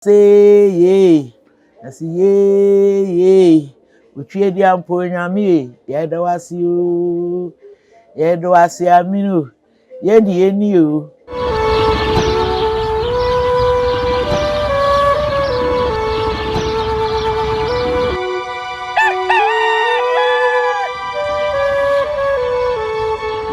Say yay, I say yay yay. Utwie di ampo nyame ye, yɛda wase o. Yɛda wase amino, yɛdi yɛni o.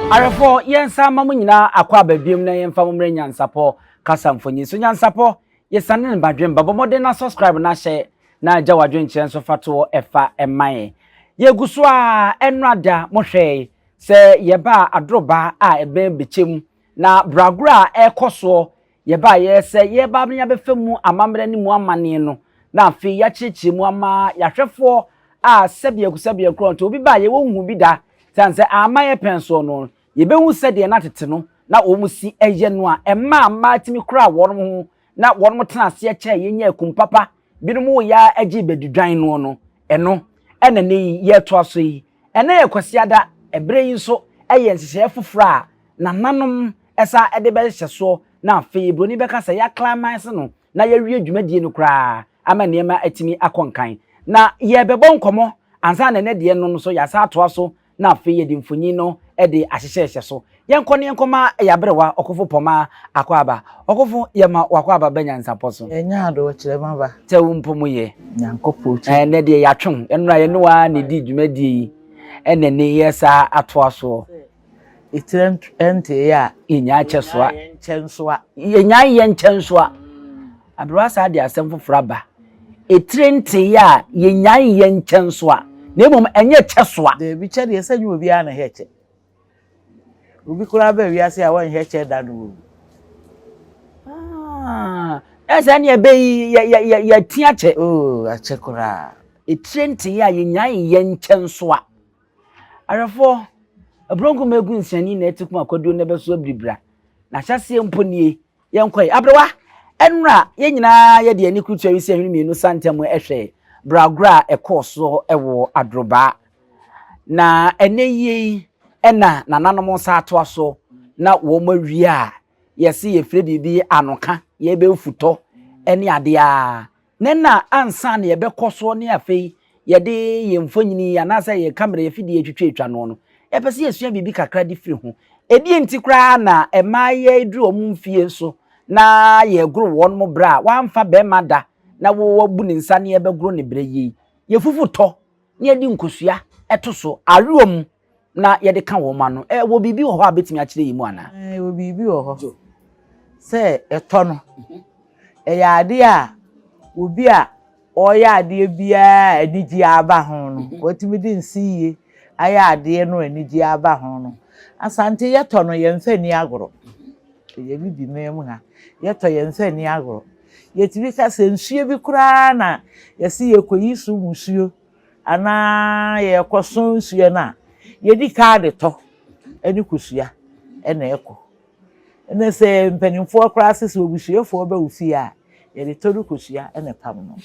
Awɛfoɔ, yɛnsa mma mo nyinaa akɔ ababiem na yɛmfa mo mmrɛ nyansapɔ kasa mfonyin so. Nyansapɔ Yɛsane ne badwen ba. Bɔ mmɔden na subscribe na hyɛ na gya w'adwenkyerɛ nso fa toɔ ɛfa ɛma yɛn. Yɛgu so ara, ɛnnora da mo hwɛe sɛ yɛbaa adoroba a ɛbɛn bɛkyɛ mu na bragorɔ a ɛrekɔ soɔ yɛbaeɛ sɛ yɛreba abɛn abɛfa mu amammerɛ ne mu amanneɛ no na afei yɛakyerɛkyerɛ mu ama yɛahwɛfoɔ a sɛbea ku sɛbea korɔnto obi baeɛ wɔnhuu bi da sane sɛ amma yɛpɛn soɔ no Yebehu sɛdeɛ na tete no na wɔn si yɛ no a ɛmaa mmaa tumi kuraa wɔn ho na wɔn tenaa aseɛ kyɛɛ yɛ nyaa kum papa, binom woeɛ ara gyee badidwan noɔ no. Ɛno na ɛnnɛ yi yɛretoa so yi. Ɛnnɛ yɛ Kwasiada, ɛberɛ yi nso yɛ nhyehyɛeɛ foforɔ a nananom san de bɛhyɛ soɔ na afei buroni bɛka sɛ yɛaclimaxe no na yɛawie dwumadie no koraa ama nneɛma atumi akɔ nkan. Na yɛrebɛbɔ nkɔmmɔ ansa na ɛnnɛ deɛ no nso yɛasan atoa so na afei yɛde mfonyin no de ahyehyɛ hyɛ so. Yɛnkɔ na yɛnkɔma ɛyɛ aberewa ɔkofo pɔmma akwaaba. Ɔkofo, yɛma w'akwaaba ba nyansapɔ so. Yɛnyɛ ade wɔ kyerɛma ba. Sɛ wo mpo mo yɛ. Nyankopɔ akyi. Ɛnnɛ deɛ yɛatwe wo. Ɛno na yɛne wo ara na ɛdi dwumadie yi ɛna ɛnɛ yi ɛsa atoa soɔ. Sɛ etire ɛnteeɛ a. Yɛnyaa kyɛ soa. Yɛnyaa yɛnkyɛ nsoa. Yɛnyaa yɛnkyɛ nsoa. Aber a saa de asɛm fofor aba, etire ntsee a yenyae nnyɛ nkyɛnsoa, na mbom ɛnyɛ kyɛsoa. Dabi, kyɛ deɛ sɛ nyɛ obiara na hɛ kyɛ. Obi koraa bɛ wiase a wɔnhɛ kyɛ da no wɔwu. Ah, ɛsɛ ɛne ɛbɛ yi yɛ yɛ yɛ yɛ ti akyɛ. Oo, akyɛ koraa. Etire ntee a yɛnyae nnyɛ nkyɛnsoa. Awerɛfoɔ, aburonko mma egu nsiani na ɛte kum akwaduo na ɛbɛso abiribira. N'ahyɛseɛ mpo nie, Yɛnkɔ yi. Aberewa, ɛnora yɛn nyinaa yɛde ani kurutua wisi ahwene mmienu sa ntam hwɛɛ bragorɔ a ɛkɔɔ so wɔ Adrobaa. Na ɛnnɛ yie yi na nananom nsa atoa so na wɔawie a, yɛse yɛfrɛ biribi anoka, yɛbɛ mfutɔ ne adeɛ a Nnɛ na ansa na yɛbɛkɔ so ne afei yɛde yɛn mfonini anaasɛ yɛn kamera, yɛn afidie retwitwatwa noɔ no, yɛpɛ sɛ yɛsua biribi kakra de firi ho. Ɛdeɛn nti koraa na mmaeɛ duru wɔn mfeɛ so na yɛregoro wɔn berɛ a wɔamfa barima da na wɔabu ne nsa na yɛrebɛgoro no berɛ yi? Yɛfufu tɔ na yɛde nkosua to so awe wɔn mu. na yɛde ka wɔn ano. Ɛwɔ biribi wɔ hɔ a bɛtumi akyerɛ yi mu anaa? Ɛwɔ biribi wɔ hɔ sɛ ɛtɔ no. Mhm. Ɛyɛ adeɛ a obi a ɔreyɛ adeɛ biara a anigye aba ho no, mhm. watumi de nsiyie ayɛ adeɛ no anigye aba ho no. Asante yɛtɔ no yɛmfa ni agorɔ. Mhm. Ɛyɛ bibi mmaa mu ha. Yɛtɔ yɛmfa ni agorɔ. Yɛtumi ka sɛ nsuo bi koraa na yɛse yɛkɔyi so musuo. anaa yɛrekɔso nsuo no a, yɛdi kaa de tɔ ne kosua na ɛkɔ. Ɛna sɛ mpanimfoɔ koraa se sɛ obusuafoɔ ba wo fie a, yɛde tɔ ne kosua na ɛpam no.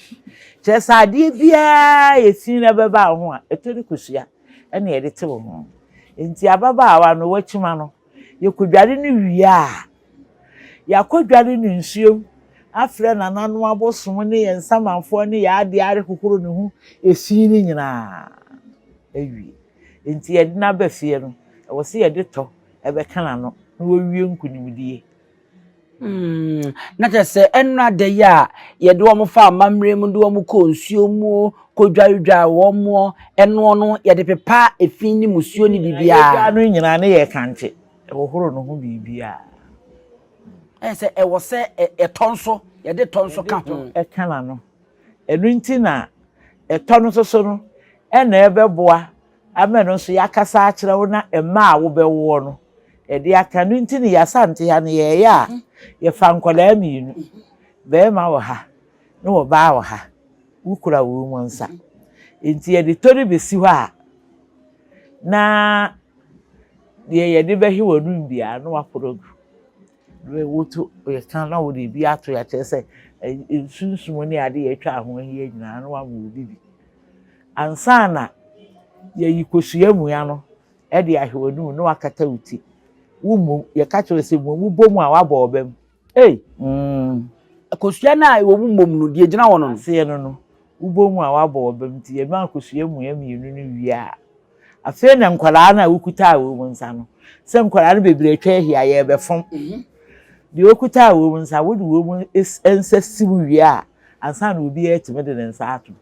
Kyerɛ sɛ adeɛ biara a ɛfi na ɛbɛba wo ho a, ɛtɔ ne kosua na yɛde te wo ho. Enti ababaawa no, wakyima no, Yɛkɔdware no wie a, yɛakɔdware no nsuom, afrɛ nananom abosom ne yɛn nsamanfoɔ ne yɛn adeɛ arehohoro ne ho fi no nyinaa awie. Enti yɛde no aba fie no, ɛwɔ sɛ yɛde tɔ bɛka n'ano na wawie nkunimdie. Mm, na kyerɛ sɛ ɛnora da yi a yɛde wɔn fa amammerɛ mu de wɔn kɔ nsuo mu kɔdwaredware wɔn mu ɛnoɔ no yɛde pepa efi ne musuo ne biribiara. yɛdwa no nyinaa ne yɛ kankye ɛhohoro no ho biribiara. ɛyɛ sɛ ɛwɔ sɛ ɛtɔ nso yɛde tɔ nso ka ho. ɛka na no ɛno nti na ɛtɔ no nso so no ɛna ɛbɛboa Ama ɛno nso yɛakasa akyerɛ wo na mma a wobɛwoɔ no ɛde aka. Ɛno nti ne Y'Asante ha no yɛɛyɛ a yɛfa nkwadaa mmienu, barima wɔ ha ne ɔbaa wɔ ha, wokura won mu nsa. Nti yɛde tɔ no bɛsi hɔ a na deɛ yɛde bɛhwɛ wɔnom biara no waporo agu. Berɛ wotu yɛka na wode bi ato yɛ akyerɛ sɛ nsunsum ne ade yɛatwa a ho ahia nyinaa na wama obi bi ansa na yɛyi kosua mua no de ahwɛ w'anum na wakata wo ti wo mmom yɛka kyerɛ sɛ mmom wobɔ mu a wabɔ ɔba mu ei mm kosua no a ɛwɔ mu mmom no deɛ gyina hɔ no no aseɛ no no wobɔ mu a wabɔ ɔba mu nti yɛma kosua mua mmienu no wie a Afei na nkwadaa no a wokuta a wɔn nsa no, sɛ nkwadaa no bebree atwa ahyia yɛrebɛfam. Mhm. Deɛ okuta a wɔn nsa, wode wɔn nsa si mu wie a, ansa na obiara atumi de ne nsa ato.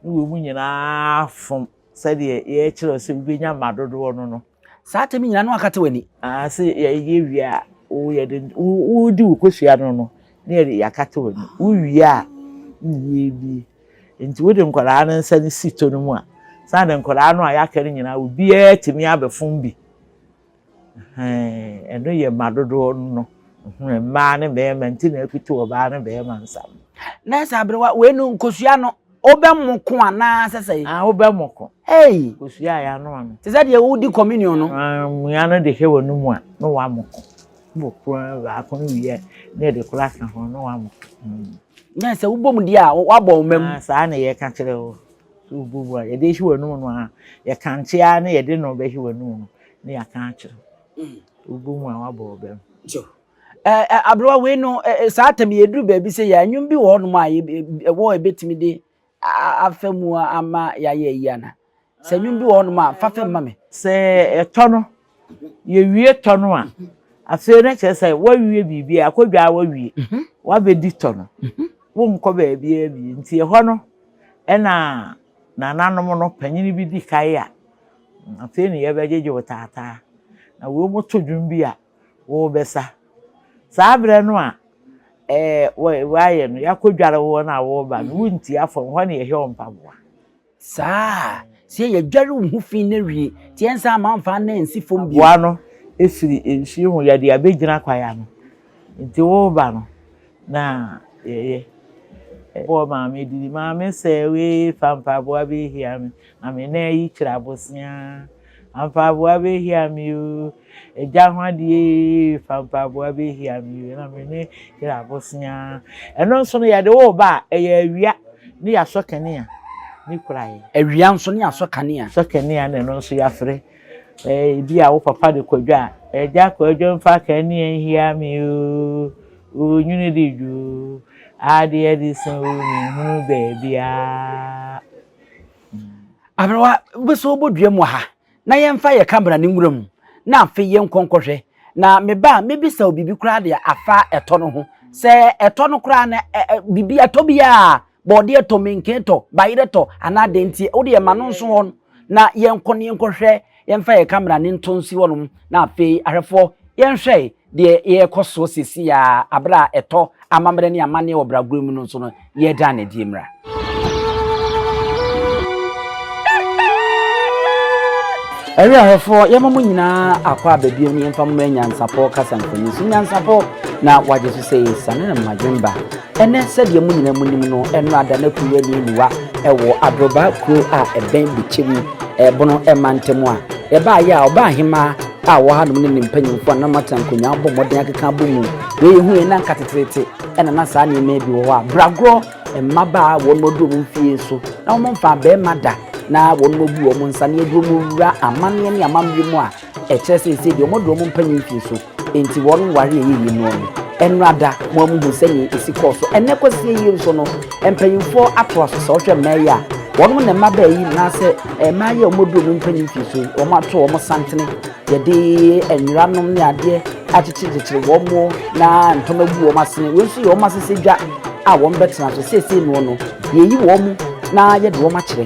Ne wɔn nyinaa fam sɛdeɛ yɛrekyerɛ sɛ wobɛnya mma dodoɔ no no. Saa tɛm nyinaa no akate w'ani. Aa sɛ yɛyɛ wie a, yɛde wodi wo kosua no no, ne yɛde yɛakate w'ani. Wowie a, ne yɛbie. Nti wode nkwadaa no nsa no si to no mu a, sɛ ade nkwadaa no a yɛaka no nyinaa obiara tumi abɛfom bi. Ɛno yɛ mma dodoɔ no. Mmaa ne mmarima nti na apiti ɔbaa ne barima nsa no. Nurse Aberewa, wei no nkosua no wobɛmo ko anaa sɛ sɛ? Ah, wobɛmo ko. Ei! Nkosua a yɛano ano. Te sɛ deɛ wodi communion no. Mmea no de hɛ wɔn mu a, na wɔamo ko. Bɔ kor ara baako no wie a na yɛde kor aka ho na wɔabɔ. Na sɛ wobɔ mu deɛ a, woabɔ wo mma mu. Ah, saa na yɛka kyerɛ wo. Sɛ wobɔ mu a, yɛde ahyi w'anum no ara. Yɛkankye ara na yɛde no bɛhye w'anum no na yɛaka akyerɛ wo. Mm. Wobɔ mu a, woabɔ wo bam. Sure. Eh, eh, aberewa wei no eh, eh, saa tam yɛduru baabi sɛ yɛ anwom bi wɔ hɔnom a ɛwɔ ɛbɛtumi de afa mu ama yɛayɛ ayi ana? Sɛ nnwom bi wɔ hɔ nom a, fa fa mu ma me. Sɛ ɛtɔ no, yɛwie tɔ no a, afei no kyerɛ sɛ woawie biribiara, akɔ dwa ara woawie, woabɛdi tɔ no. Wonkɔ baabiara bio. Nti ɛhɔ no na nananom no, panin bi di kae a, afei na yɛbɛgyegye wo taataa. Na wɔto dwom bi a, Worebɛsa. Saa berɛ no a Woayɛ no, Yɛakɔdware wo wɔn a woreba no, Wontia fam hɔ na Yɛhwɛ wo mpaboa. Saa a, sɛ Yɛdware wo ho fi no awie, te yɛn nsa amma amfa anna ansi fam bio. Aboa no firi nsuo mu, Yɛde abɛgyina kwaeɛ ano, enti woreba no na Yɛyɛ. Bɔɔ maame dini, Maame sɛ wei fa mpaboa bɛhia me, na me nan yi kyerɛ aboseaa. Ampaboa bɛhia me o, Agya ho adeɛ ee, fa mpaboa bɛhia me o, na me ne yere abosea. Ɛno nso no yɛde wo ba a, ɛyɛ awia ne yɛasɔ kanea ne kura yɛ. Awia nso ne yɛasɔ kanea. Sɔ kanea na ɛno nso yɛafrɛ. Ebi a wo papa de kɔ dwa a, Agya kɔ adwa mu fa kanea nhia me o, onwunu de dwo o, adeɛ de sɛn o, menhunu baabiara. Aberewa, wobɛsɔ wobɔ dua mu wɔ ha, na yɛmfa yɛ camera ne nwura mu, na afei yɛnkɔ nkɔhwɛ. Na me ba, mɛbisa wo biribi koraa deɛ afa ɛtɔ no ho. Sɛ ɛtɔ no koraa no, ɛ ɛ biribi ɛtɔ biara, bɔɔdeɛ tɔ, menken tɔ, bayerɛ tɔ, anaa deɛ nti, wodeɛ ma no nso hɔ, na yɛnkɔ na yɛnkɔhwɛ Yɛmfa yɛn kamera no nto nsi hɔnom na afei ahwɛfoɔ yɛnhwɛ deɛ yɛrekɔ soɔ seesei ara aberɛ a ɛtɔ amammerɛ ne amanneɛ wɔ Bragorɔ mu no nso no yɛreda no adie mmra. Ɛyɛ ahwɛfoɔ yɛma mo nyinaa akɔ ababio ne yɛmfa mmra nyansapɔ kasa nkɔni so nyansapɔ na wagye so sɛ yɛsane no mmadwemba Ɛnnɛ, sɛdeɛ mo nyinaa monim no, ɛnnora da na kuruwa nni mmuwa wɔ Adrobaa kuro a ɛbɛn Bikyɛmu bono mantam a. Yɛbaeɛ a, ɔbaa hemaa a ɔwɔ hanom ne ne mpanyimfoɔ a na wɔatena nkonnwa abɔ mmɔden akeka abɔ mu. Deɛ yɛhuiɛ no anka teteete na na saa nneɛma yi bi wɔ hɔ a bragorɔ mmabaa a wɔn aduru wɔn mfeɛ nso na wɔmfaa barima da na wɔabu wɔn nsa na yɛde wɔn wura amanneɛ ne amammerɛ mu a Ɛkyerɛ sɛ ɛsei deɛ wɔde wɔn mpanyin fie so nti wɔn ware ɛyɛ yie noɔ no ɛnora da mo a muhu sɛnea ɛsi kɔɔ so ɛnɛ kɔsie yie nso no mpanyinfoɔ ato aso sɛ ɔhwɛ mmaa yi a wɔn na mma baa yi naasɛ eh, mmaa yi a wɔde wɔn mpanyin fie so wɔn ato wɔn santene yɛde nwera nom ne adeɛ akyekyerekyekyere wɔn mo na ntoma gu wɔn asene wɔn nso yɛ wɔn asese dwa a wɔn bɛtena so seesei noɔ no yɛyi wɔn na yɛde wɔn akyerɛ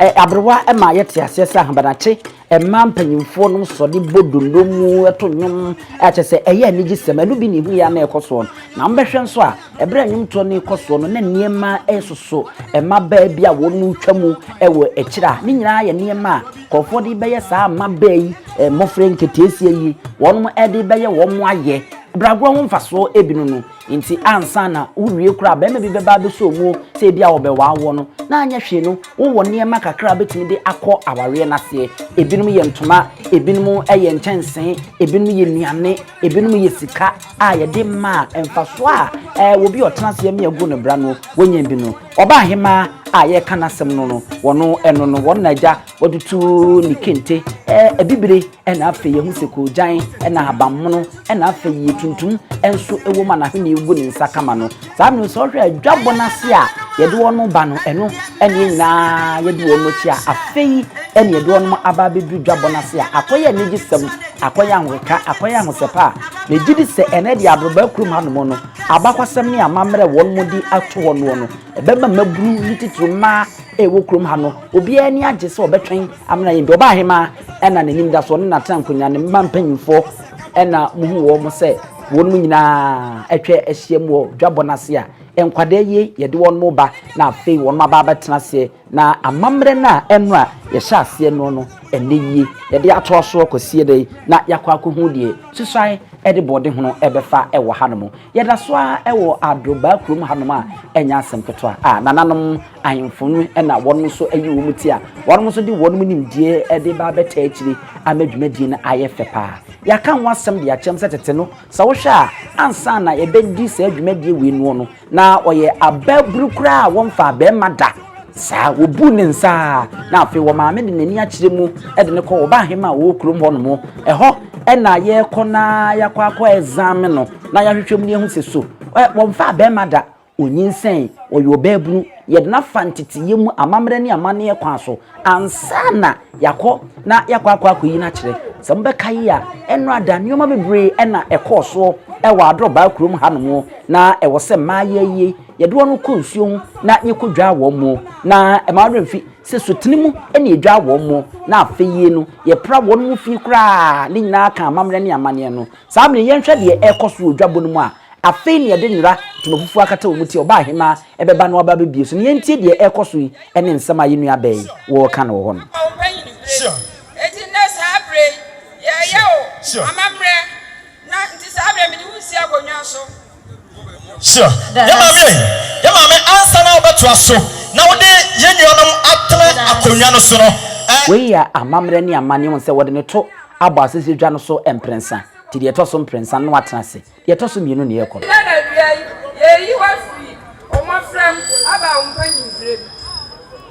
Ɛyɛ aberewa ma yɛte aseɛ sɛ ahabanakye mmaa mpanyimfoɔ nom sɔre bɔ donno mu to nnwom a kyerɛ sɛ ɛyɛ anigyesɛm. Ɛno bi na ɛhu yɛ ara na ɛrekɔ soɔ no. Na mobɛhwɛ nso a, ɛberɛ a nnwomtoɔ no rekɔ soɔ no, na nneɛma resoso mmabaa bi a wɔretwa mu wɔ akyire a ne nyinaa yɛ nneɛma a nkurɔfoɔ de rebɛyɛ saa mmabaa yi, mmɔfra nketeesia yi, wɔnom de rebɛyɛ wɔn ayɛ brɛagoɔ ho mfasoɔ bi no no. Enti ansa na worewie koraa, barima bi bɛba abɛsɔ mu o, sɛ ebia wɔbɛwaa woɔ no, na anyɛ hwee no, wowɔ nneɛma kakra a wobɛtumi de akɔ awareɛ no aseɛ. Ebinom yɛ ntoma, ebinom yɛ nkyɛnsee, ebinom yɛ nnuane, ebinom yɛ sika a yɛde ma a mfasoɔ a ɛɛ obi a ɔtena ase ami agu ne bra no, wɔnya bi no. Ɔbaahemaa a yɛreka n'asɛm no no, wɔn ɛno no, wɔn na agya Wɔde tu ne kente abibire na afei yɛhu sɛ koogyan na ahabammono na afei tuntum nso wɔ mu a n'ahoni gu ne nsa kama no. Saa no sɛ ɔhwɛ adwabɔ no ase a yɛde wɔn ba no, ɛno ne nyinaa yɛde wɔn akyi a afei ɛne yɛde wɔn aba abɛduru dwabɔ no ase a akɔyɛ anigyesɛm, akɔyɛ ahoreka, akɔyɛ ahosɛpɛ a megye di sɛ ɛnɛ deɛ abrabaa kurom hanom no abakɔsɛm ne amammerɛ wɔn de ato hɔ noɔ no ɛbɛma mmabunu ne titiri mmaa ɛwɔ kurom ha no Obiara ani agye sɛ ɔbɛtwɛn amena yɛn bi. Ɔbaa hemaa ɛna n'anim da so, ɔne n'atena nkonwa, ne mma mpanyimfoɔ ɛna muhu wɔn sɛ wɔn mu nyinaa atwa ahyiam wɔ dwabɔ no ase a nkwadaa yi yɛde wɔn reba na afei wɔn aba abɛtena aseɛ na amammerɛ no a ɛno a yɛhyɛ aseɛ no no ɛnɛ yie yɛde atoa soɔ kɔsie dɛ na yɛakɔ akɔhu deɛ susuan ɛde bɔɔde hono ɛbɛfa ɛwɔ hanom yɛda so a ɛwɔ adrobaa kurom hanom a ɛnyɛ asɛm ketewa a nananom Ahemfo no na wɔnom nso ayi wɔn ti a wɔnom nso de wɔnom nimdeɛ de ba abɛtaa akyire ama dwumadie no ayɛ fɛ paa. Yɛaka ho asɛm de akyerɛ mo sɛ tete no, sɛ wohwɛ a, ansa na yɛbɛdi saa dwumadie wei noɔ no, na ɔyɛ abaaburu koraa a wɔmfaa barima da. Saa, wɔbuu ne nsa ara, na afei wɔn maame de n'ani akyerɛ mu de no kɔɔ wɔn baahemaa a wɔwɔ kurom hɔnom. Ɛhɔ na yɛkɔ na yɛakɔ akɔ ɛzaame no na yɛahwehwɛ mu na yɛahu sɛ so wɔmfaa barima da. Onyinsɛn, ɔyɛ ɔbaabunu, yɛde no afa nteteyɛ mu amammerɛ ne amanneɛ kwan so ansa na yɛakɔ na yɛakɔ akɔ akɔyi no akyerɛ. Sɛ mobɛkae a, ɛnnorada nneɛma bebree na ɛkɔɔ soɔ wɔ Adrɔbaa kurom hanom. Na ɛwɔ sɛ mmayewa yi, yɛde wɔn kɔ nsuo ho na yɛkɔdwaa wɔn. Na ɛmma wo werɛ mfi sɛ sutene mu na yɛdwaa wɔn, na afei no, yɛpra wɔn fie koraa. Ne nyinaa ka amammerɛ ne amanneɛ no Saa bere yi, yɛnhwɛ deɛ ɛrekɔ so wɔ dwabɔ no mu a afei na yɛde nwera ntoma fufuo akata wɔn ti a ɔbaahemaa bɛba na waba abɛbue so no. Yɛntie deɛ ɛrekɔ so yi ne nsɛm a yɛn nua Ben reka no wɔ hɔ no. Ɔpanyin bere. Enti nnɛ saa bere yi, yɛreyɛ wo amammerɛ, na enti saa bere yi mede wo resi akonnwa so. Sure yɛn maame ei, yɛn maame ansa na wobɛtoa so na wode yɛn nuanom atena akonnwa no so no ɛ. Wei yɛ amammerɛ ne amanneɛ, wohu sɛ wɔde no to abɔ asese dwa no so mprɛnsa nti deɛ ɛtɔ so mprɛnsa no na watena ase, deɛ ɛtɔ so mmienu na yɛrekɔ. Nnɛ na awia yi, yɛreyi wo afiri wo mmɔfra mu aba wo mpanyimberɛ mu.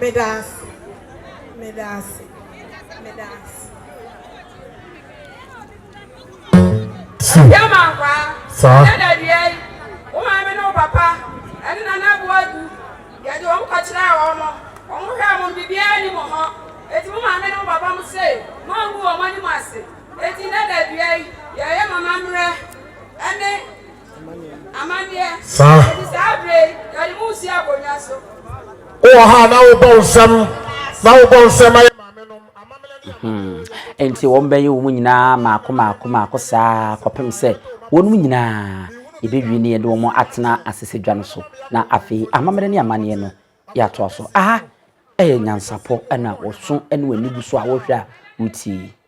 Meda ase, meda ase, meda ase. Ti. Yɛma nkwaa. Saa. Ɛnyɛ dɛ deɛ yi, wo maame ne wo papa ɛne nana abu adu. Yɛde wɔn kɔkyerɛɛ wɔn, wɔn hwɛɛ wɔn biribiara nni mo hɔ. Eti mo maame ne mo papa mo se mo angu wɔn anim ase. Eti nnɛ da dua yi, yɛyɛ mo amammerɛ ɛne. saa wowɔ ha na wobɔ nsɛm na wobɔ nsɛm ayɛ maame nom amammerɛ nti wɔn bɛyɛ wɔn nyinaa maako maako maako saa kɔpem sɛ wɔn nyinaa yɛbɛwie ne yɛde wɔn atena asese dwa no so na afei amammerɛ ne amanneɛ no yɛatoa so aha ɛyɛ nyansapɔ ɛna wɔso ɛne wɔn ani gu so a wɔhwɛ a wotie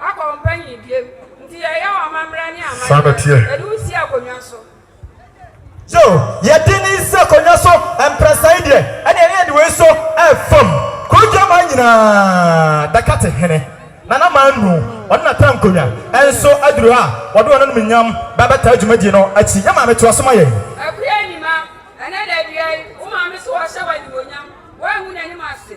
akɔ ɔmpanyin biem nti yɛyɛ wo amamerɛ ne amanneɛ yɛde wo si akonnwa so. Yo, yɛde no si akonnwa so mprɛnsa yi deɛ ɛneɛ na yɛde wei so fam kuro dwaman nyinaa bɛkate hene Nana Manu ɔne n'atra nkonnwa nso aduru ha a wɔde wɔn anumunyam bɛbɛtaa dwumadie no akyi. Yɛ maame toa so ma yɛn. Akua Nima, ɛnɛ da dua yi, wo maame so wɔhyɛ wo animuonyam, woangu n'anim ase.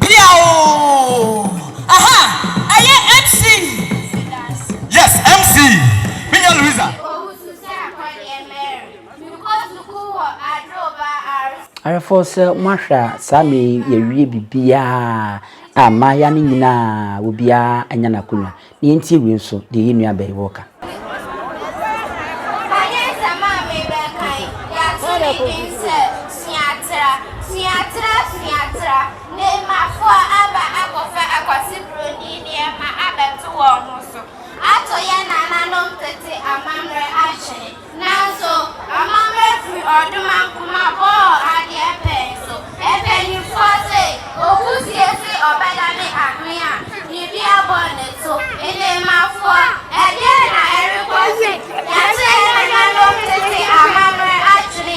Biaw! Aha! Ɛyɛ MC! Yes, MC! Me nua Louisa! Ayefoɔ sɛ mo ahwɛ a saa mmerɛ yi yɛawie biribiara a mmayewa no nyinaa obiara anya n'akonwa. Nea enti ewie nso, deɛ yɛn nua Abbey wɔ ka. Fa nyɛ nsɛm a merebɛkan yi ato ne din sɛ, Sua Tra, Sua Tra, Sua Tra, Nehemafoɔ aba akɔfa akwati buroni nneɛma abɛto wɔn ho so, ato yɛn nananom tete amammerɛ atwene. Nanso, amammerɛ firi ɔdoman koma bɔɔ adeɛ pɛn so. Mpanimfoɔ se, Owu sie se ɔbɛdane adwene a biribi abɔ ne so. Nneemafoɔ, ɛdeɛn na ɛrekɔ so? Yɛakyerɛ yɛn nananom tete amammerɛ adwene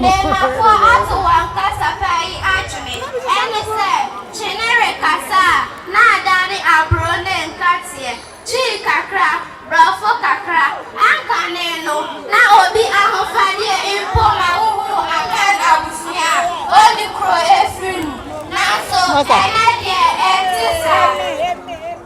Nnafo ato wɔn kasa paa yi adwene, ɛne sɛ kyene rekasa a na adane aburo ne nkateɛ, Twi kakra, Brɔfo kakra. Ankane no, na obi ahofadeɛ mpo ma wohunu Akan abusua a ɔnni kuro afiri mu. Nanso ɛnnɛ deɛ ɛnte saa.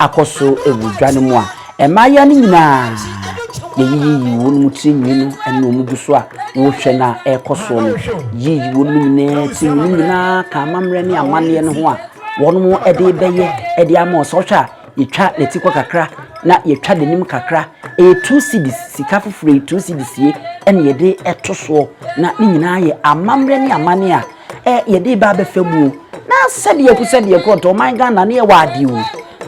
akɔ so wɔ dwa no mu a, mmayewa no nyinaa yiyiyi wɔn tiri nwi no na wɔn gu so a wɔrehwɛ na ɛrekɔ soɔ no. Yiyi wɔn nyinaa tiri nwi no nyinaa ka amammerɛ ne amanneɛ no ho a wɔn de bɛyɛ de ama ɔsɛ ɔhwɛ a yɛtwa ne ti kɔ kakra na yɛtwa n'anim kakra ɛyɛ two cedis sika foforɔ yi two cedis yie ɛna yɛde ɛto soɔ na ne nyinaa yɛ amammerɛ ne amanneɛ a Eh, yɛde ba abɛfa mu o. Na sɛdeɛ ku sɛdeɛ kɔ ntɔ ɔman Ghana ne yɛwɔ ade o.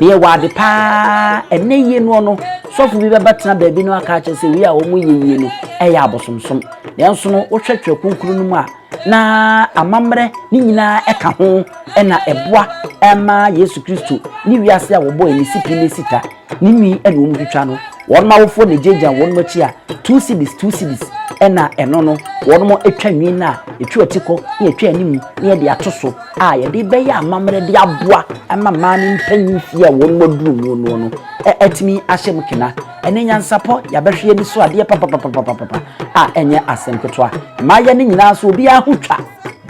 Ne yɛwɔ ade paa. Ɛnɛ yie no no, sɔfo bi bɛba tena baabi no aka akyerɛ sɛ wei a wɔn yɛ yie no ɛyɛ abosomsom. Nanso no, wohwɛ twerɛ kronkron no mu a, na amammerɛ ne nyinaa ɛka ho ɛna ɛboa ɛma Yesu Kristo ne wiase a wɔbɔ ɛne sipi ne sita Ne nwi na wɔn twitwa no. Wɔn awofoɔ na ɛgyaagyaa wɔn akyi a two cedis, two cedis na ɛno no wɔn twa nwi no a ɛtwa ati kɔ na ɛtwa anim na yɛde ato so a yɛde bɛyɛ amammerɛ de aboa ma mmaa ne mpanyin fie a wɔn aduru mu no no atumi ahyɛ mu kena. Ɛne nyansapɔ yɛabɛhwɛ ani so adeɛ papapapapapa a ɛnyɛ asɛm ketewa. Mmaayɛ no nyinaa so obiara ho twa.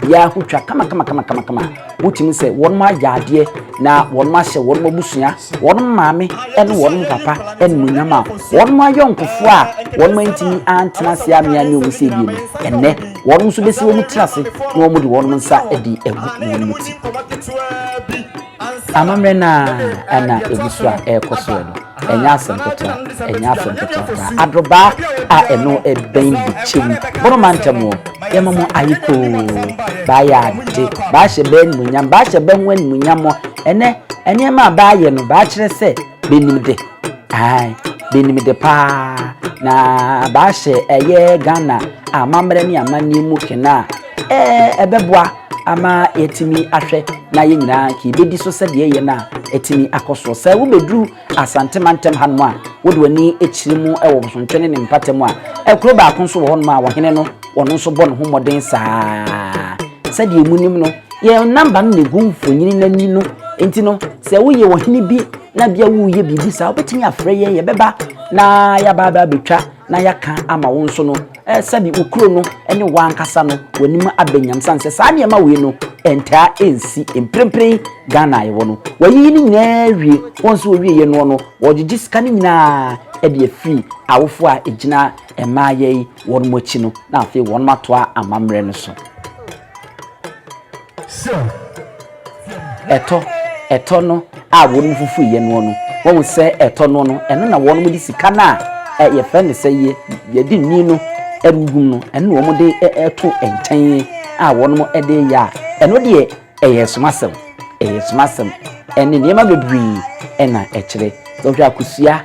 biara ho twa kama kama kama kama kama wotumi sɛ wɔn agya adeɛ na wɔn ahyɛ wɔn abusua wɔn maame ne wɔn papa animuonyam a wɔn ayɔnkofoɔ a wɔn antumi antena ase amea ne wɔn sɛ ebien ɛnɛ wɔn nso bɛsi wɔn tena ase na wɔn de wɔn nsa de agu wɔn ti. Amammerɛ no ara na ɛgu so a ɛrekɔ soɔ no, ɛnyɛ asɛm ketewa, ɛnyɛ asɛm ketewa koraa. Adorobaa a ɛno ɛbɛn Bikyem, Boroma ntam hɔ, yɛma mo ayɛ koo, baayɛ ade, baahyɛ bɛ animuonyam, baahyɛ bɛ ho animuonyam. Ɛnnɛ, nneɛma a baayɛ no, baakyerɛ sɛ bɛnim de, ae, bɛnim de pa ara, na baahyɛ ɛyɛ Ghana amammerɛ ne amanneɛ mu kene a Ɛbɛboa ama yɛatumi ahwɛ na yɛn nyinaa anka yɛbɛdi so sɛdeɛ yɛn a atumi akɔ soɔ. Sɛ wobɛduru Asante mantam hanom a, wode w'ani kyerɛ mu wɔ Bosontwe ne ne mpata mu a, kuro baako nso wɔ hɔnom a ɔhene no ɔno nso bɔ ne ho mmɔden saa ara. Sɛdeɛ monim no, yɛn namba no na ɛgu mfonini no ani no, nti no sɛ woyɛ ɔhene bi na bia woreyɛ biribi saa, wobɛtumi afrɛ yɛn, yɛbɛba na yɛaba abɛtwa na yɛaka ama wo nso no. Sɛdeɛ wo kuro no ne wo ankasa no w'anim aba nyam sane sɛ saa nneɛma wei no ntaa nsi mprempren Ghana a yɛwɔ no wɔayiyi ne nyinaa awie wɔn nso wɔwieɛ noɔ no wɔgyegye sika no nyinaa de afiri awofoɔ a ɛgyina mmaa yɛi wɔn akyi no na afei wɔn atoa amammerɛ no so. Sɛ ɛtɔ, ɛtɔ no a wɔnom fufu yɛ noɔ no, wahu sɛ ɛtɔ noɔ no, ɛno na wɔnom de sika no a yɛfrɛ no sɛ yɛ, yɛde nni no ɛrehum no, ɛno na wɔn de ɛto nkyɛn a wɔnom de yɛ a, ɛno deɛ ɛyɛ somasɛm, ɛyɛ somasɛm, ɛne nneɛma bebree ɛna ɛkyerɛ. Sɛ wohwɛ akosua.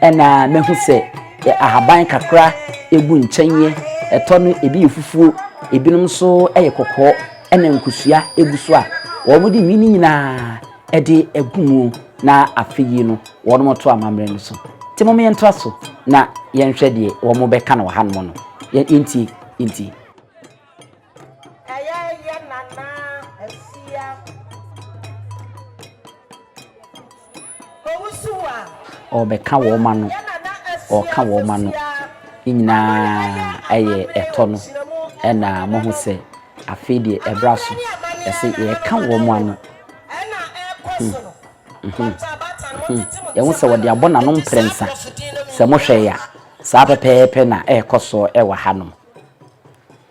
Ɛna mɛhu sɛ yɛ ahaban kakra egu nkyɛn yɛ, ɛtɔ no ebi yɛ fufuo, ebinom nso ɛyɛ kɔkɔɔ, ɛna nkosua egu so a wɔn de nwi no nyinaa ɛde egu mu na afe yi no wɔn to amammerɛ no so. Nti mom yɛntoa so na yɛnhwɛ deɛ wɔn bɛka no wɔ hanom no. Yɛntie, yɛntie. Ɛyɛ yɛ nana asia owusu a. Ɔbɛka wɔn ano, ɔka wɔn ano. Ne nyinaa yɛ ɛtɔ no. Ɛna mohu sɛ afei deɛ ɛbra so. Ɛsɛ yɛka wɔn ano. Yɛhu sɛ wɔde abɔ n'ano mprɛnsa. Sɛ mohwɛ ya, saa pɛpɛɛpɛ na ɛrekɔ so wɔ hanom.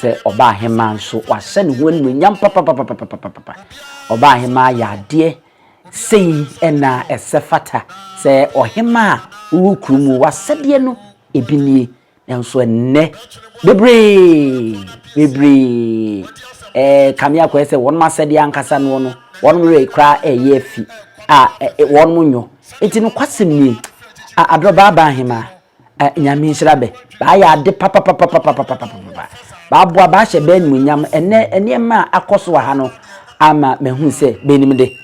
Sɛ ɔbaahemaa nso, wahyɛ ne ho animuonyam papapapapapapa. Ɔbaahemaa yɛ adeɛ sei na ɛsɛ fata sɛ ɔhemaa a wowɔ kurom o, w'asɛdeɛ no ebi nie. Nanso ɛnnɛ, bebree, bebree rekame akɔyɛ sɛ wɔn asɛdeɛ ankasa noɔ no, wɔn werɛ koraa reyɛ afi a wɔn nyɔ. Enti nokwasɛm nie, aberɛ baabaa hemaa, Nyame nhyira bɛ. Baayɛ ade papapapapapapapapa. Baaboa, baahyɛ bɛ animuonyam. Ɛnnɛ nneɛma a akɔ so wɔ ha no ama mahu sɛ bɛnim de.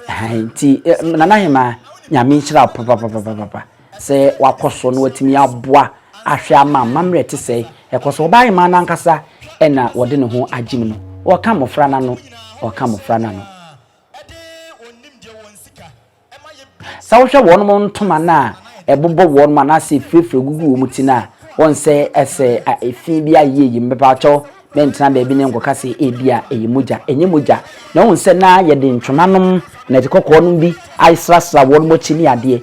Nti Nana hemaa, Nyame nhyira wo papapapapapa. sɛ wakɔ so na watumi aboa ahwɛ ama amammerɛ a ɛte sɛɛ rekɔ so. Ɔbaa hemaa no ankasa na ɔde ne ho agyem no. Ɔreka mmofra no ano, ɔreka mmofra no ano. Sɛ wohwɛ wɔn ntoma no a ɛbobɔ wɔn anaasɛ efurafura gugu wɔn ti no a, wɔn sɛ ɛsɛ efi bi ayɛ yi mmepa kyɛw mɛntena baabi ne nkɔka sɛ ebi a ɛyɛ mogya ɛnyɛ mogya na wɔn sɛ na yɛde ntwomanom na ɛde kɔkɔɔ nom bi ayesrasra wɔn akyi ne adeɛ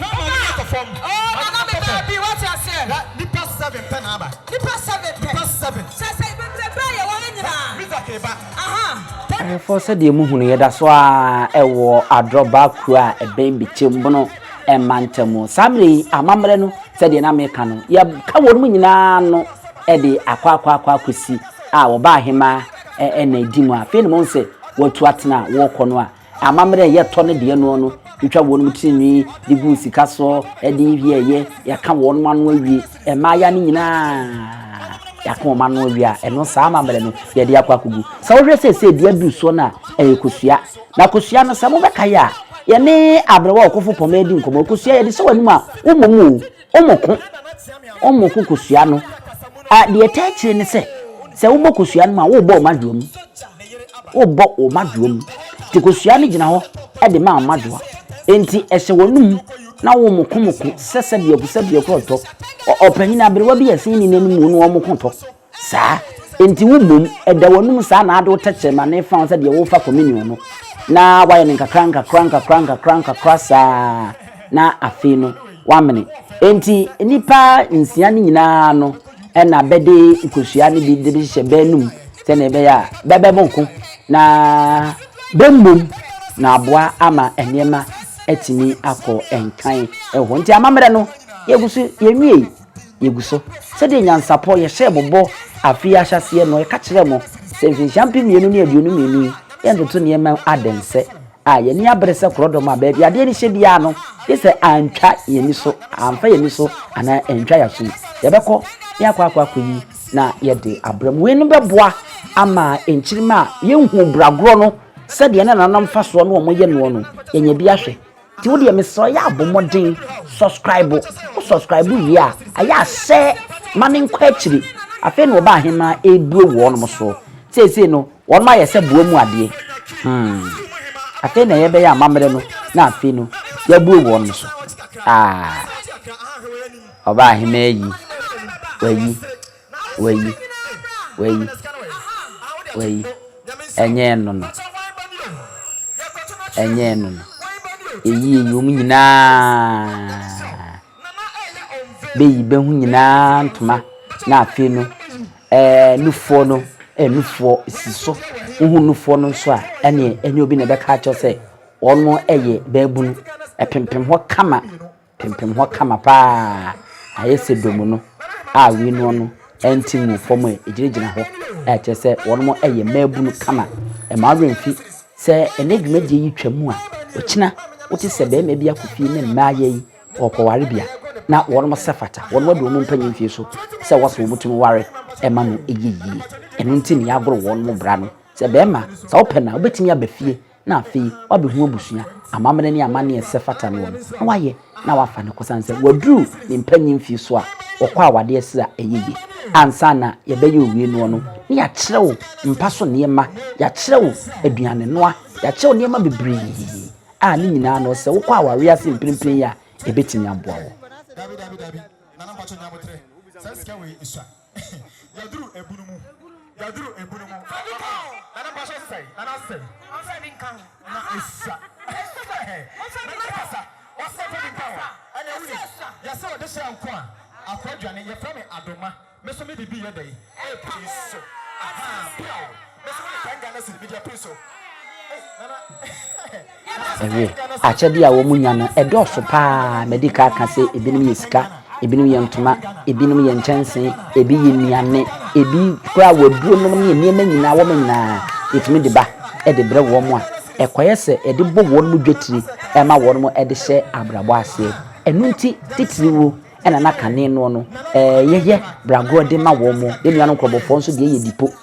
Na ama n'ani atɔ fam. Oh, na na me baabi, wate aseɛ. Hwɛ, nnipa seven pɛ na aba. Nnipa seven pɛ. Nnipa seven. Sɛ, sɛ, bebrebe a yɛwɔ ha nyinaa. Hwɛ, Mizak reba. Aha. Ahwɛfoɔ, sɛdeɛ mohu no, yɛda so ara wɔ Adrɔbaa kuro a ɛbɛn Bikyembono mantam mu. Saa mmerɛ yi, amammerɛ no, sɛdeɛ na meka no, yɛka wɔnom nyinaa ano de akɔ akɔ akɔ akɔsi a wɔba ahemaa ɛna ɛdi mu a, afei na mohu sɛ wɔatu atena a wɔrekɔ no a, Amammerɛ a ɛyɛ tɔ no deɛ noɔ no, twitwa wɔnom tirinwi de gu sika soɔ, ɛde wieeɛ, yɛaka wɔnom ano awie, mmaaya no nyinaa, yɛaka wɔn ano awie a, ɛno saa amammerɛ no, yɛde akɔ akɔgu. Sɛ wohwɛ seesei deɛ aduru soɔ no a, ɛyɛ kosua. Na kosua no, sɛ mobɛkae a, yɛne Aberewa a ɔkɔfo pɔmɛ di nkɔmmɔ. Kosua, yɛde hyɛ w'anom a, wommɔ mu o. Wɔko, wɔko kosua no. A, deɛ ɛtaa akyire ne sɛ, sɛ wobɔ kosua no mu a, worebɔ wɔn adwoa mu. Worebɔ wɔn adwoa mu. Nti kosua no gyina hɔ de ma wɔn adwoa. Nti ɛhyɛ wɔn mu na wɔkomoko sɛsɛbiako sɛbiako ɔtɔ. Ɔpanyin aberewa bi a ɛsɛn ne nan mu no wɔko tɔ. Saa nti wo mmom da w'anom saa na ade wo tɛkyerɛma no refa wo sɛ deɛ worefa communion no, na woayɛ no nkakra nkakra nkakra nkakra nkakra saa na afei no woamene. Enti nnipa nsia no nyina ara no na bɛde nkosua no bi de bɛhyehyɛ bɛ anom sɛdeɛ ɛbɛyɛ a bɛbɛmo ko na bɛmmom na aboa ama nneɛma atumi akɔ nkan wɔ hɔ. Nti amammerɛ no yɛgu so yɛnwiei. yegu so. Sɛdeɛ nyansapɔ yɛhyɛɛ mo bɔ afe yi ahyɛaseɛ no, yɛka kyerɛɛ mo sɛ mfinhyia mpem mmienu ne aduonu mmienu yi, yɛntoto nneɛma mu adensɛ a yɛn ani abere sɛ korɔdɔm a baabi adeɛ no hyɛ biara no, gye sɛ antwa yɛn ani so, amfa yɛn ani so anaa antwa yɛn asom. Yɛbɛkɔ na yɛakɔ akɔ akɔyi na yɛde abrɛ mo. Weinom bɛboa ama nkyirimma a yɛnhuu bragorɔ no sɛdeɛ na nananom fa soɔ ne wɔn yɛ noɔ no, yɛanya bi ahwɛ. Nti wodeɛ mesrɛ wo yɛa bɔ mmɔden subscribe wo subscribe wie a ayɛ a sɛ ma me nkɔ akyiri afei na ɔba ahemaa ɛbue wɔnom so seesei no wɔnom ayɛ sɛ boa mu adeɛ hmm afei na yɛbɛyɛ amammerɛ no na afei no yɛabue wɔnom so ah ɔba ahemaa yi wayi Wayi, wayi, wayi. Ɛnyɛ ɛno no. Ɛnyɛ ɛno no. Eyi eyi wɔn nyinaa. Beyi bɛho nyinaa ntoma na afei no ɛɛ nufoɔ no ɛɛ nufoɔ si so. Wohu nufoɔ no nso a ɛne ɛnyɛ obi na ɛbɛka akyerɛ sɛ wɔn ɛyɛ bɛɛbunu. Ɛpempem hɔ kama. Pempem hɔ kama pa ara a, ayɛ sɛ dɔm no a wei noɔ no nte nguu fam ɛ, ɛgyinagyina hɔ a ɛkyerɛ sɛ wɔnom yɛ mmaabunu kama. Ɛma wo werɛ mfi sɛ ɛnnɛ dwumadie yi twa mu a, ɔkyena wote sɛ barima bi akɔ fie ne mmaa yɛ yi ɔɔkɔ warebea na wɔnom sɛ fata wɔnom adu wɔn mpanyin mfie so sɛ wɔ sɛ wɔtumi ware ɛma no ɛyɛ yie. Ɛno nti na yɛagoro wɔnom bra no sɛ barima sɛ wopɛ no a wobɛtumi aba fie na afei wabehu abusua amammerɛ ne amanneɛ a ɛsɛ fata no wɔ no, na wayɛ na wafa no kosiane sɛ waduru ne mpanyin mfe so a, wɔkɔ awade ɛsrɛ a ɛyɛ yie. Ansa na yɛbɛyɛ owie noɔ no, na yɛakyerɛ wo mpa so nneɛma, yɛakyerɛ wo aduanenoa, yɛakyerɛ wo nneɛma bebree a ne nyinaa no sɛ wokɔ awareɛ ase mprempren yi a, ɛbɛtumi aboa wo. Yaduru ebunu mu. Yaduru ebunu mu. Fa bi ka ho. Nana mpa so sɛn. Nana sɛn. Ɔnfa bi nka ho. Na esua. Nana kasa. Ɔsɛ fa bi nka ho. Ɛna wuni. Yɛsɛ ɔde hyɛ nko a. Akɔ aduane. Yɛfrɛ me Adoma. Me so me de bi yɛ dɛn. Epi so. Ahaa. Biaw. Me so me de ten Ghana cedi. Me de api so. Ei Nana. Ɛyɛ akyɛdeɛ a wɔn nya no ɛdɔɔso paa, madi kan aka sɛ ebinom yɛ sika, ebinom yɛ ntoma, ebinom yɛ nkyɛnsee, ebi yɛ nnuane, ebi koraa wɔ aduro nom ne nneɛma nyinaa, wɔn nyinaa yɛtumi de ba de brɛ wɔn a ɛkɔyɛ sɛ yɛde bɔ wɔn dwatiri ma wɔn de hyɛ abrabɔ aseɛ. Ɛno nti titiriwuo na na kane noɔ no yɛyɛ bragorɔ de ma wɔn. Yɛn nuanom nkorɔbɔfoɔ nso deɛ yɛ dipo.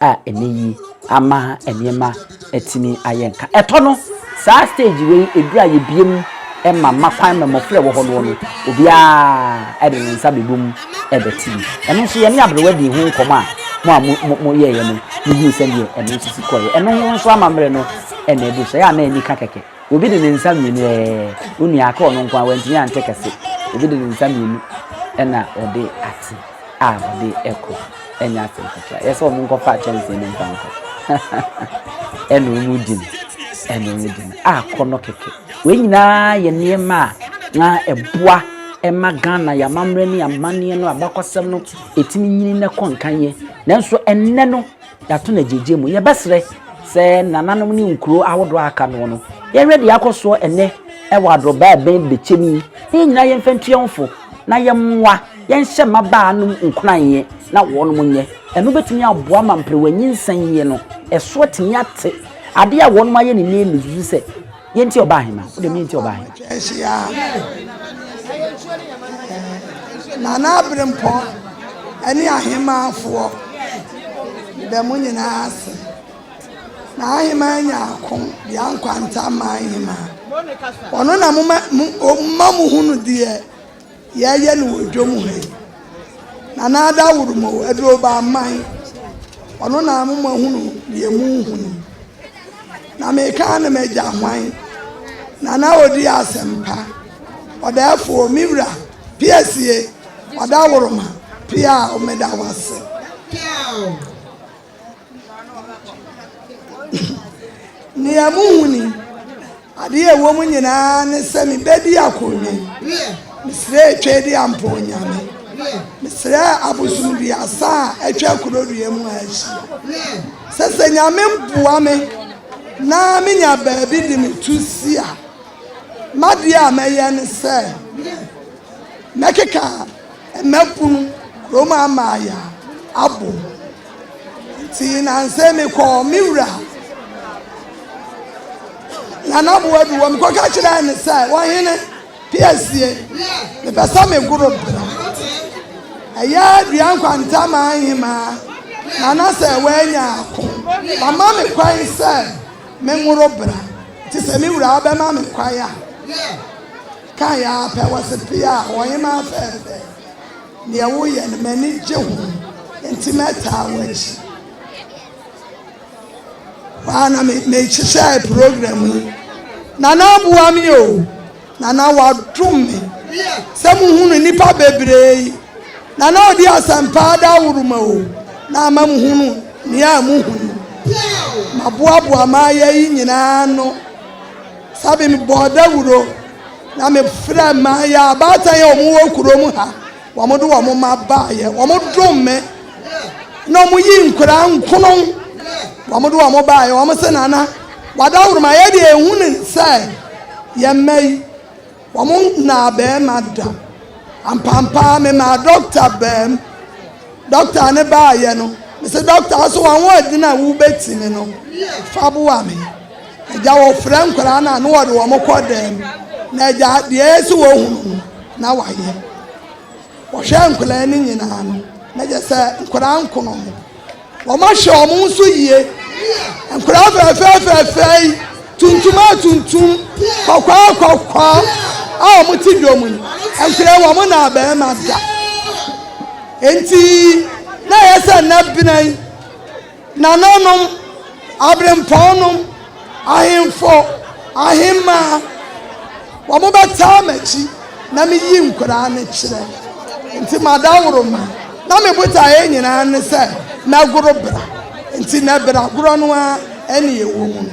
a ɛnnɛ yi ama nneɛma atumi ayɛ nka. Ɛtɔ no, saa stage wei ɛduru a yɛbue mu ma mma kwan ma mmɔfra a ɛwɔ hɔ noɔ no, obiara de ne nsa bɛbɔ mu bɛte bi. Ɛno nso yɛne aberewa dii ho nkɔmmɔ a mo a mo mo yɛeɛ no mohuu sɛdeɛ ɛno nso si kɔeɛ. Ɛno ho nso amammerɛ no na ɛduru so, ɛyɛ a na anika kɛkɛ. Obi de ne nsa mmienu ɛɛ. Wo nua aka ɔno nko ara wantumi ante kɛse. Obi de ne nsa mmienu ɛna ɔde ate a ɔde ɛkɔ ɛnyɛ asɛm ketewa. Yɛsɛ wɔn nkɔfa kyɛnsee no mfa nkɔ ɛna wɔn di no ɛna wɔn di no a kɔ no kɛkɛ. Wei nyinaa yɛ nneɛma a na ɛboa ɛma Ghana yɛ amammerɛ ne amanneɛ no abakɔsɛm no ɛtumi nyini na ɛkɔ nkan yɛ. Nanso ɛnnɛ no. Yɛato no agyiegyiɛ mu. Yɛbɛsrɛ sɛ nananom ne nkuro ahodoɔ a aka noɔ no, yɛnhwɛ deɛ akɔ soɔ ɛnnɛ wɔ adorobaa bɛn bɛkyɛ mu yi, na yɛn nyinaa yɛmfa ntu yɛn ho fo, na yɛmmoa, yɛnhyɛ mmabaa nom nkuranhyɛ na wɔnom nyɛ. Ɛno bɛtumi aboa ma mperewa nyinsɛn yɛ no, ɛso atumi ate. Adeɛ a wɔnom ayɛ no nnɛ yi na ɛsusu sɛ. Yɛ nti ɔba ahema. Wo dem yɛ nti ɔba ahema. Kyɛnse ya. Na na abrempɔ ɛne ahemafoɔ bɛ mo nyinaa ase. Na ahema nya ako de ankwanta ma ahema. Ɔno na mo ma mo hunu deɛ. Yɛɛyɛ no wɔ dwom ha yi. Nana Addo Aworomowo, aduro ba mman, ɔno na mo moahunu deɛ morehu no. Na meka ara ne m'agya hwan? Nana Odi Asɛmpa, Ɔdaɛfoɔ, me wura, Piasie, Ɔdaworoma, Piaw, meda wo ase. Piaw. Nea muhu ni, ade a ɛwom nyinaa ne sɛ mibedi akoodwen. Mesrɛɛ Tweedi ampa Onyame. Mesrɛɛ abosom duasa a atwa Korodua mu ha ahyia sɛ sɛ Nyame boa me na menya baabi de me to si a, m'adeɛ a mɛyɛ ne sɛ mɛkeka Mmɛpono kurom amaaya abɔ nti nansa me kɔɔ me wura Nana Boadu hɔ mekɔka kyerɛɛ ne sɛ ɔhene Piasie mepɛ sɛ me goro bra ɛyɛ dua nkwanta maa nhemaa nana sɛ wanya ako mama me kwan sɛ me nworo bra nti sɛ me wura bɛma me kwan a Kae ara pɛ, wɔse pii a ɔhemaa fɛɛfɛɛ, deɛ woyɛ no m'ani gye ho nti mɛtaa w'akyi. Hɔ ara na mehyehyɛɛ program yi. Nana aboa me o, Nana wadom me sɛ mohunu nnipa bebree yi. Nana ɔde asɛmpa adaworo ma o, na ama mohunu nea mohunu. Maboaboa m'ayɛ yi nyinaa ano. Sɛbe mebɔɔ dawuro na me frɛ maa yɛ abaatan yɛ wɔn wɔ kuro mu ha, wɔn de wɔn mma baa yɛ, wɔn dom me, na wɔn yi nkwadaa nkono, wɔn de wɔn baa yɛ, wɔn se nana, wadaworo ma yɛ deɛ ehu ne sɛ yɛ mma yi. Wɔn nnaa barima da. Ampampaa memaa dɔkta baam. Dɔkta no baeɛ no, mese dɔkta wo so w'ahoɔden a wobɛtumi no, fa boa me. Agya wɔfrɛ nkwadaa no a na wɔde wɔn kɔ dɛm na agya deɛ ɛyɛ sɛ wɔhunu no na wayɛ. Wɔhwɛ nkwadaa no nyinaa no, na kyerɛ sɛ nkwadaa nkono ho. Wɔahyɛ wɔn nso yie. Nkwadaa fɛɛfɛɛ fɛɛfɛɛ yi, tuntum a tuntum, kɔkɔɔ a kɔkɔɔ a wɔte dwom yi, nkwadaa yi wɔn naa barima da. Enti na ɛyɛ sɛ nnɛ bena yi, nananom, aberempɔnnom, Ahemfo, ahemmaa, wɔbɛtaa m'akyi na meyi nkwadaa no kyerɛ. Enti m'adaworoma na me botaeɛ nyinaa ne sɛ mɛgoro bra. Enti na bra gorɔ no ara na yɛwɔ mu.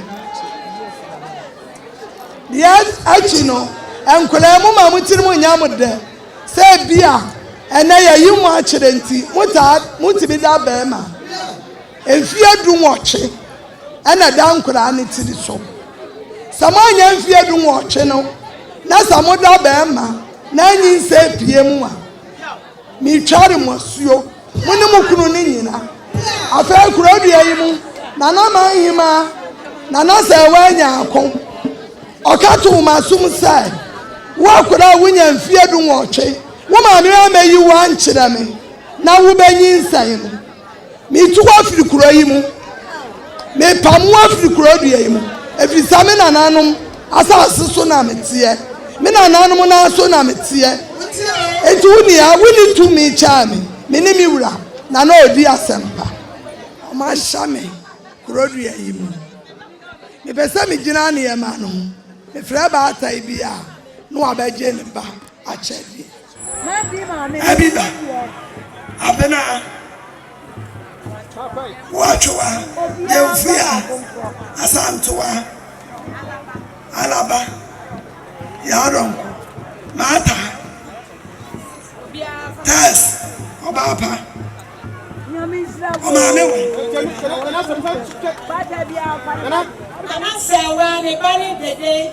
Deɛ akyi no, nkwadaa yi moma mo tirim nyɛ mo dɛ sɛ ebia ɛnnɛ yɛayi mo akyerɛ nti motaa motumi da barima. Mfeɛ dunwɔtwe na ɛda nkwadaa no tiri so. Sɛ moanya mfeɛ dunwɔtwe no na sɛ moda barima na anyinsɛn apue mo a, metware mo asuo, mo ne mo kunu no nyina. Afei kurodua yi mu na na m'ahemaa Nana Sɛɛwaa nya ako. Ɔka too m'asom sɛ, Wo akwadaa a wonya mfeɛ dunwɔtwe, wo maame ammɛyi wo ankyerɛ me na wobɛnyinsɛn no. Metu wo afiri kuro yi mu. Mepamo wo afiri kuro dua yi mu, ɛfiri sɛ me nananom asase so na meteɛ, me nananom nan so na meteɛ. Enti wo nea wonni tumi kyɛɛ me, me ne me wura, na na ɔredi asɛmpa. Wɔahyɛ me kuro dua yi mu. Mepɛ sɛ megyina nneɛma no ho. Mefrɛ baatan bi a, na wabɛgye ne ba akyɛdeɛ. Abiba Abena Woatwewa Yemfuya Asantewaa Alaba Yaronko Martha Tess Obaapa Omaame Wa Nana Sewaa Ne Ba Ne Dede.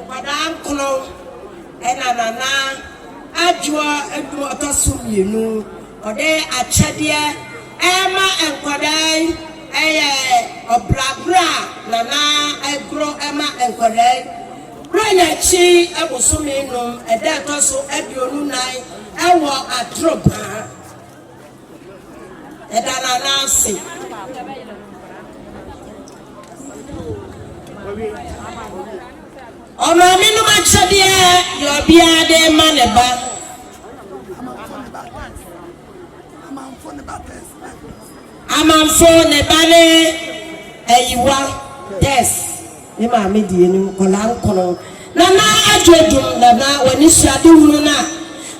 Nkwadaa nkron na Nana Adwoa Adu ɔtɔ so mmienu. Ɔde akyɛdeɛ rema nkwadaa yi yɛ ɔbragorɔ a Nana goro ma nkwadaa yi. Berɛ yɛ akyi bosome num, ɛda ɛtɔ so aduonu nan wɔ Atoropa. Ɛda no anan ase. Ɔmaame nom akyɛdeɛ deɛ ɔbea de ma ne ba. Amanfo ne ba ne ayiwa des. Ne maame de anim nkwadaa nkron na na adwoodwom na na wɔn anisoade hunu no a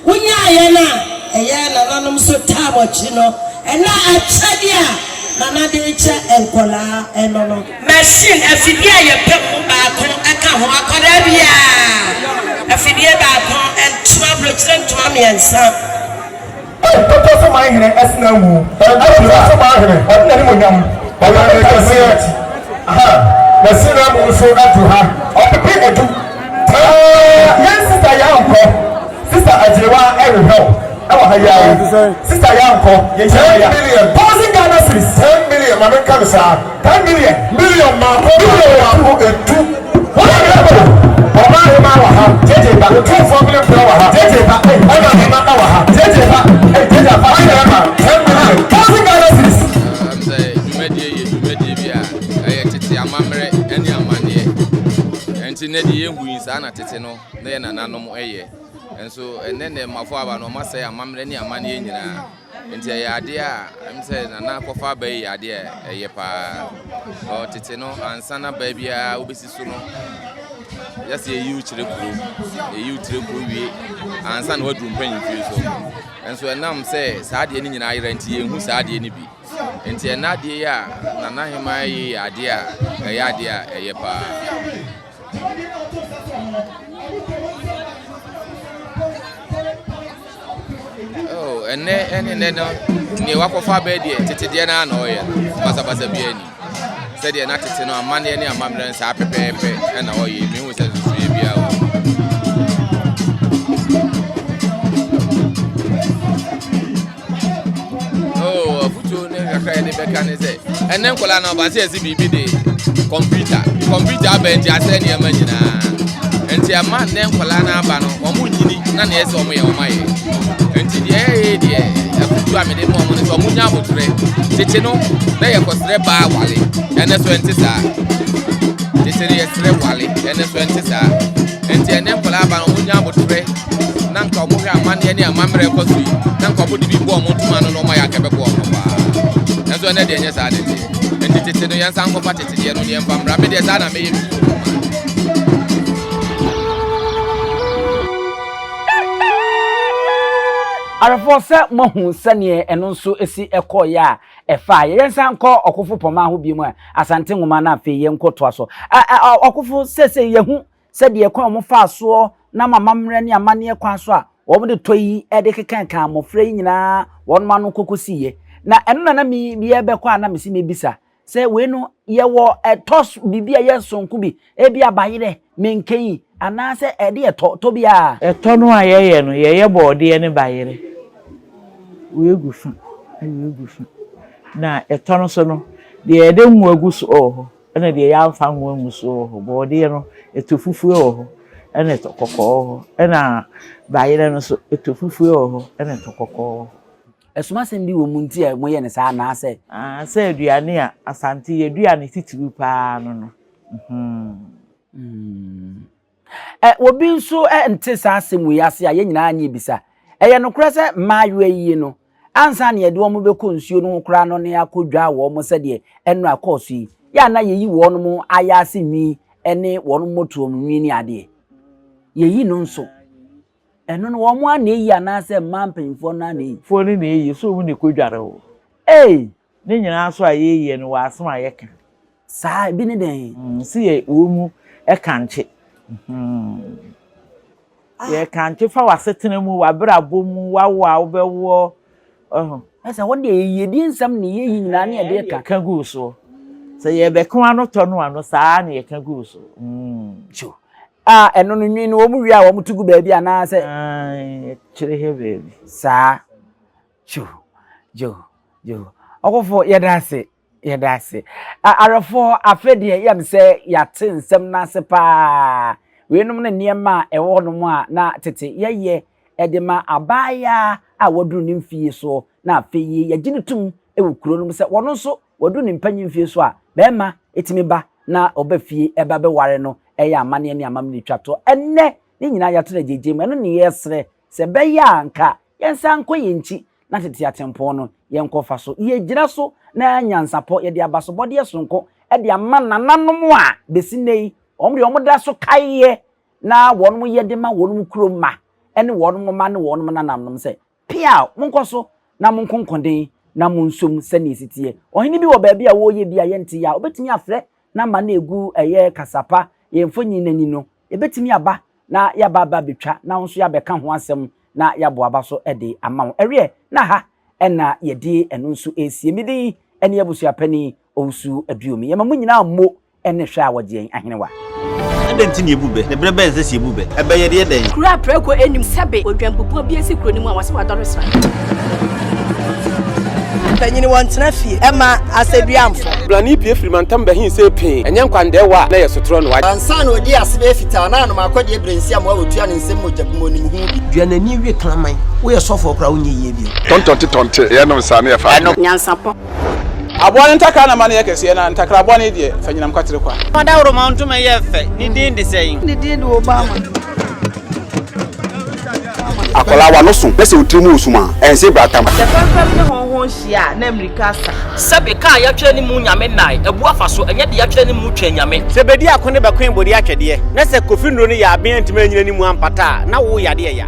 wonyaeɛ no a ɛyɛ nananom so tam akyi no na akyɛdeɛ a nana de rekyɛ nkwadaa no no. Machine, afidie a yɛpɛ mu baako ka ho, akwadaa biara afidie baako, ntoma, aburokyire ntoma mmiɛnsa. Ei, toto so man hene ɛsena ngu. Toto so man hene ɔde n'animuonyam ɔda ne kɛseɛ akyi. Aha, n'asina mu nso adu ha. Ɔpepe adu taa. Yɛn sista Yankɔ, sista Agyerewa ɛrehwɛ wo ɛwɔ ha yi ara yi. Sista Yankɔ, yɛn nyinaa ya. Ten million, thousand Ghana cedis, ten million, ma menka no saa. Ten million. Million mako mako mako edu. Wọ́n yẹ bò. Ọba ahema wà ha. Jẹjẹ ba. Otumfoɔ mene mpira wà ha. Jẹjẹ ba. Ọba ahema wà ha. Jẹjẹ ba. Jẹjẹ afa. Wọ́n yẹ ma. Ten million. Thousand Ghana cedis. Ɛsiane sɛ dwumadie yɛ dwumadie bi a ɛyɛ tete amammerɛ ne amanneɛ ɛnti nɛ deɛ yɛhu yi saa na tete no na yɛ nananom ɛyɛ ɛnso ɛnɛ nɛ mmafoɔ aba no ɔma sɛ amammerɛ ne amanneɛ nyinaa Nti ɛyɛ adeɛ a ɛm sɛ nana akɔfa aba yi yɛ adeɛ a ɛyɛ paa. Ɔ tete no ansa na baa biara wobɛsi so no yɛsɛ yɛyi wo kyerɛ kuro, yɛyi wo kyerɛ kuro wie ansa na waduru mpanyinfie so. Nso ɛnam sɛ saa adeɛ no nyinaa ayera nti yɛnhu saa adeɛ no bi. Nti ɛna adeɛ yi a nana hemaa yi yɛ adeɛ a ɛyɛ adeɛ a ɛyɛ paa. Dwumadi no a wɔtoo nsa too ho no, wɔbɔɔ mu nsɛm maa Kristosom abusua no mpɔn sɛ wɔbɛpaw ɔpepem anum. Oh, ɛnnɛ ɛne nnɛ no, nea wakɔfa abɛɛ deɛ tete deɛ no ara na ɔyɛ no, basabasa biara ni. Sɛdeɛ na tete no amanneɛ ne amammerɛ no saa pɛpɛɛpɛ na ɔyɛ, menhu sɛ nsusuiɛ biara wɔ mu. Oh, afutuo ne kakra yɛde bɛka ne sɛ ɛnɛ nkɔla no ɔbase ɛsi biribi de kɔmputa kɔmputa abɛn nti asɛ nneɛma nyinaa nti ɛma nnɛ nkɔla no aba no wɔn nyini na neɛ sɛ wɔn yɛ wɔn ayɛ nti deɛ ɛyɛ deɛ afutuo a mede ma wɔn no sɛ wɔn nya abotrɛ tete no na yɛ kɔsrɛ baa wale ɛnɛ so ɛnte saa tete no yɛsrɛ wale ɛnɛ so ɛnte saa nti ɛnɛ nkɔla aba no wɔn nya abotrɛ na nka ɔmo hwɛ amanneɛ ne amammerɛ ɛkɔ so yi na nka ɔmo de bi bɔ ɔmo ntoma no na ɔmo ayɛ akɛbɛbɔ ɔmo paa nanso ɛnɛ deɛ nyɛ saa ne deɛ ɛnti tete no yɛn nsa nkɔfa tete deɛ no ne yɛn fa mmra me deɛ saa na meyɛ mi awerɛfoɔ sɛ moahu sɛneɛ ɛno nso si ɛkɔɔeɛ a ɛfa yɛyɛ nsa nkɔ ɔkofo pɔma ho bio mu a asante nwoma no afei yɛnkɔ toa so ɔkofo sɛsɛ yɛhu sɛ deɛ kwan a wɔfaa soɔ nam amammerɛ ne amanneɛ kwan so a wɔde tɔ yi de kekankan mmɔfra yi nyinaa wɔn ano kɔkɔsiiɛ. Na ɛno na na me yɛrebɛkɔ a na mese mɛbisa sɛ wei no yɛwɔ ɛtɔ biribi a ɛyɛ sononko bi, ebi a bayerɛ, menkeyi anaasɛ ɛde ɛtɔ tɔ bi a. Ɛtɔ no a yɛyɛ no, yɛyɛ borɔdeɛ ne bayerɛ. Wei gu fa na wei gu fa. Na ɛtɔ no so no, deɛ yɛde ngo agu so wɔ hɔ. Ɛna deɛ yɛamfa ango angu soɔ wɔ hɔ, borɔdeɛ no, ɛtɔ fufue wɔ hɔ, ɛna ɛtɔ kɔkɔɔ wɔ hɔ, ɛna bayerɛ no nso, ɛtɔ fufue wɔ hɔ, ɛna ɛtɔ kɔkɔɔ wɔ hɔ. Asumasɛm bi wɔ mu nti a moyɛ no saa anaasɛ? Aane, sɛ aduane a Asante yɛ aduane titiriw pa ara no no. Ɛ, obi nso ɛ, nte saa asɛm wei ase a, yɛn nyinaa nyɛ bisa. Ɛyɛ nokorɛ sɛ mmaayewa yi no, ansa na yɛde wɔn bɛkɔ nsuo no ho koraa no na yɛakɔdwaa wɔn sɛdeɛ ɛnnora ɛkɔɔ so yi, yɛ a na yɛyi wɔn ayaase nwi ne wɔn mmɔtoam nwi ne adeɛ. Yɛyi no nso. Ɛno no, wɔn ara na ɛyi anaasɛ mmaa mpanimfoɔ no ara na ɛyi? Foɔ no na ɛyi, so wɔn na ɛkɔdware wo. Ei! Ne nyinaa so a yɛyɛ no wɔ asem a yɛka. Saa, ebi ne dɛn? Se yɛ wɔ mu kankye. Yɛ kankye fa w'asetena mu, w'abrabɔ mu, w'awo a wobɛwoɔ, wahu. Ɛsɛ hɔ deɛ yɛyɛ di nsɛm ne yɛyi nyinaa ne yɛde ka. Ka gu soɔ. Sɛ yɛbɛka w'ano tɔ no ano saa ara na yɛka gu wo so. Kyo. A, ɛno no nwi no wɔn wie a wɔn to gu baabi anaa sɛ. Aane, kyere hɛ baabi. Saa. Jew, jew, jew. Ɔkofo yɛda ase, yɛda ase. Awerɛfo afei deɛ yɛ me sɛ yɛate nsɛm no ase paa. Weinom ne nneɛma a ɛwɔ hɔnom a na tete yɛyɛ de ma abaayaa a waduru ne mfie so na afei yi yɛgye no tom wɔ kuro no mu sɛ wɔno nso waduru ne mpanyin mfie so a bɛrima tumi ba na ɔba fie ɛba bɛware no ɛyɛ amanneɛ ne amammerɛ twa to ɛnnɛ ne nyinaa yɛato no agyegye mu ɛno ne yɛsrɛ Sɛ ɛbɛyɛ a anka yɛnsan nkɔ yɛn nkyi na tete atempɔn no, yɛnkɔfa so. Yɛgyina so na nyansapɔ, yɛde abasobɔdeɛ sononko de ama nananom a bɛsi nnɛ yi, wɔn deɛ wɔda so kaeɛ na wɔn yɛ de ma wɔn kurom mma ne wɔn mma ne wɔn nananom sɛ, Piaw! Monkɔ so na monko nkoden na monsom sɛdeɛ ɛsi teɛ. Ɔhene bi wɔ baabi a ɔreyɛ bi a yɛnte yɛ a, ɔbɛtumi afrɛ n'ama no ɛgu ɛyɛ kasapa, yɛn mfonyin no ani no, Ebetumi aba na yɛaba aba abetwa na wo nso yɛabɛka ho asɛm na yɛabɔ aba so de ama wo. Ɛweɛ na ha na yɛde ɛno nso resie. Me din ne Abusuapanin Owusu Aduomi. Yɛma mo nyinaa mmo ne hwɛ a wɔgye yɛn ahenewa. Adɛn nti na yɛbu bɛ? Ne berɛ bɛn sɛ sɛ yɛbu bɛ? Ɛbɛ yɛdeɛ dɛn? Kuro a prɛko nnim sɛbe odwanbubuo bi asi kuro no mu a wɔse wadɔre sra. Mpanyin wɔ ntena fie ɛma asɛduamfo. Brane pie firi mantam bɛhen sɛ pee. Ɛnyɛ nkwandaɛwa a na ɛyɛ sotorɔ no. Ansa na ɔdii ase bɛyɛ fitaa na anom akɔdeɛ berensiam a ɔtua ne nsam mogya gu mu ɔnim ho bi. Dua n'ani we kraman. Woyɛ sɔfoɔ koraa a wonyɛ yie bio. Tɔntɔnte tɔnte yɛ nom saa na yɛfa adeɛ. Nyansapɔ. Aboa no ntakra na ma no yɛ kɛseɛ na ntakra aboa no yi deɛ fa nyinam kwatere kwa. Fa dawuroma ntoma yɛ fɛ, ne din de sɛn? Ne din de Obama. Akwadaa wa no so na sɛ otiri mu wɔ sum a, ɛnse bra tam. Sɛ fɛmfɛm ne hɔnhɔn hyia a, na mmirika asa. Sɛbe kaa yɛatwerɛ ne mu nyame nnae, abu afa so, ɛnyɛ deɛ yɛatwerɛ ne mu twɛn nyame. Sɛ bedi ako ne bɛkoe bode atwɛdeɛ, na sɛ kofi nnuro no yɛ aben antumi anyina ne mu ampata a, na wo yade ɛya.